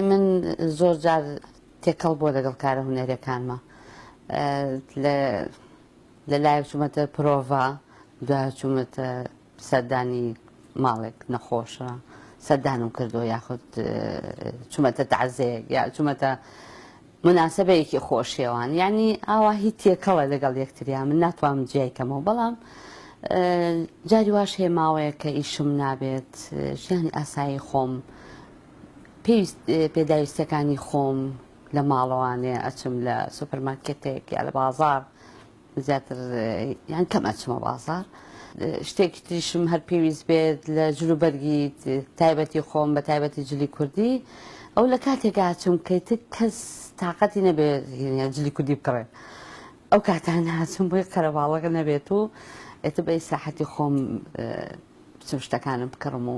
من زۆر جار تێکەڵ بووە لەگەڵ کارە هونەریەکانمە لە لایەک چوومەتە پرۆڤا دو چوومەتە سەردانی ماڵێک نەخۆشە سەردانم کردو یاخود چوومەتە تازەیەک یا چوومەتە مناسبەیەکی خۆشیێوان ینی ئاوا هی تێکەڵە لەگەڵ یەکتریا من ناتوانم جیای کەمەوە بەڵام جاری واش هێماوەیە کە ئیشم نابێت ژیانی ئاسایی خۆم پێداویستیەکانی خۆم لە ماڵەوانێ ئەچم لە سوپەرمارکێتێک یا لە بازار زیاتر یان کەم ئەچمە بازار شتێکی تریشم هەر پێویست بێت لە جلوبەرگی تایبەتی خۆم بە تایبەتی جلی کوردی ئەو لە کاتێکا چم کەیت کەس تااقەتی نەبێت جلی کوردی بکڕێت ئەو کاتان هاچم بۆی قەرەباڵەکە نەبێت و ئێتە بەی ساحەتی خۆم بچم شتەکانم بکڕم و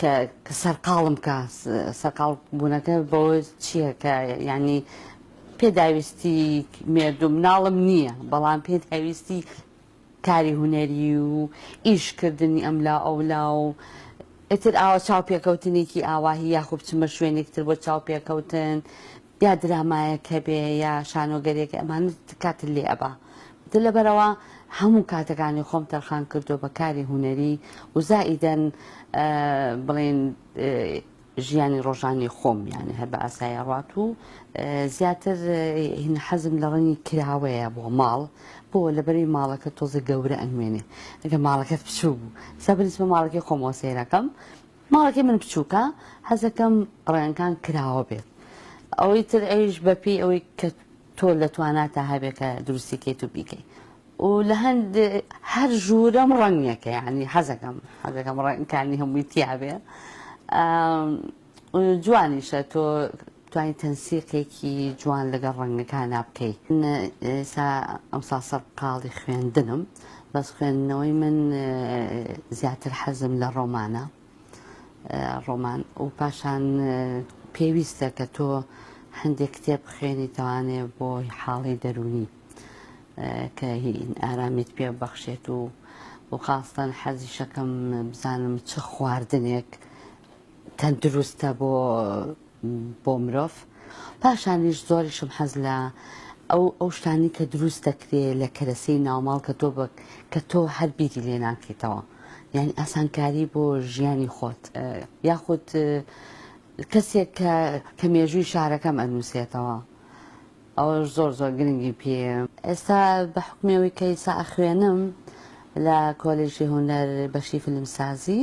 کە سەرقاڵم کا سەرقاڵ بوونەکە بەوە چییە کە یعنی پێداویستی مێردوو مناڵم نییە بەڵام پێداویستی کاری هوەری و ئیشکردنی ئەم لا ئەو لا و ئیتر ئاوە چاو پێکەوتنێکی ئاواهی یاخوب چمە شوێنێکتر بۆ چاو پێکەوتن یا درامایەک هەبێ یا شانۆگەریەک ئەمانە کاتت لێ ئەبا دە لەبەرەوە هەموو کاتەکانی خۆم تەرخان کردو بە کاری هونەری و زائیدەن بڵێن ژیانی ڕۆژانی خۆم یانە هەر بە ئاسایە ڕات و زیاتر هین حەزم لە ڕەنی کراوەیە بۆ ماڵ بۆ لەبەری ماڵەکە تۆزە گەورە ئەنوێنێ ئەگە ماڵەکەت بچوو بوو سەبنیسمە ماڵەکەی خۆمەوە سێرەکەم ماڵەکەی من بچوکە حەزەکەم ڕەنگەکان کراوە بێت ئەوەی تر ئەویش بەپێی ئەوەی کە تۆ لە تواناتا هەبێت کە دروستی کەیت و بیکەی و لە هەند هەر ژوورەم ڕەنگەکە یعنی حەزەکەم حەزەکەم ڕەنگەکانی هەمووی تیابێ جوانیشە تۆ توانی تەنسیقێکی جوان لەگەڵ ڕەنگەکانا بکەی من ئێسا ئەمسا سەرقاڵی خوێندنم بەس خوێندنەوەی من زیاتر حەزم لە ڕۆمانە ڕۆمان و پاشان پێویستە کە تۆ هەندێک کتێب بخێنی توانێ بۆ حاڵی دەرونی کە ئارامیت پێ بەخشێت و و خاستان حەزی شەکەم بزانم چ خواردنێک تەندروستە بۆ بۆ مرۆڤ پاشانیش زۆریشم حەز لە ئەو ئەو شتانی کە دروست دەکرێ لە کەرەسەی ناوماڵ کە تۆ بک کە تۆ هەر بیری لێ ناکەیتەوە یعنی ئاسانکاری بۆ ژیانی خۆت یاخود کەسێک کە کە مێژووی شارەکەم ئەنووسێتەوە ئەوە زۆر زۆر گرنگی پێ ئێستا بە حکمێەوەی کە ئیسا ئەخوێنم لە کۆلێژی هونەر بەشی فیلمسازی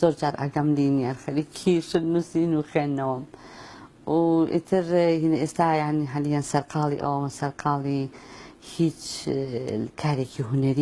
زۆر جار ئەگەم لینیەر خەریکی شت نووسین و خوێندنەوەم و ئیتر هینە ئێستا یانی هەلیان سەرقاڵی ئەوەمە سەرقاڵی هیچ کارێکی هونەری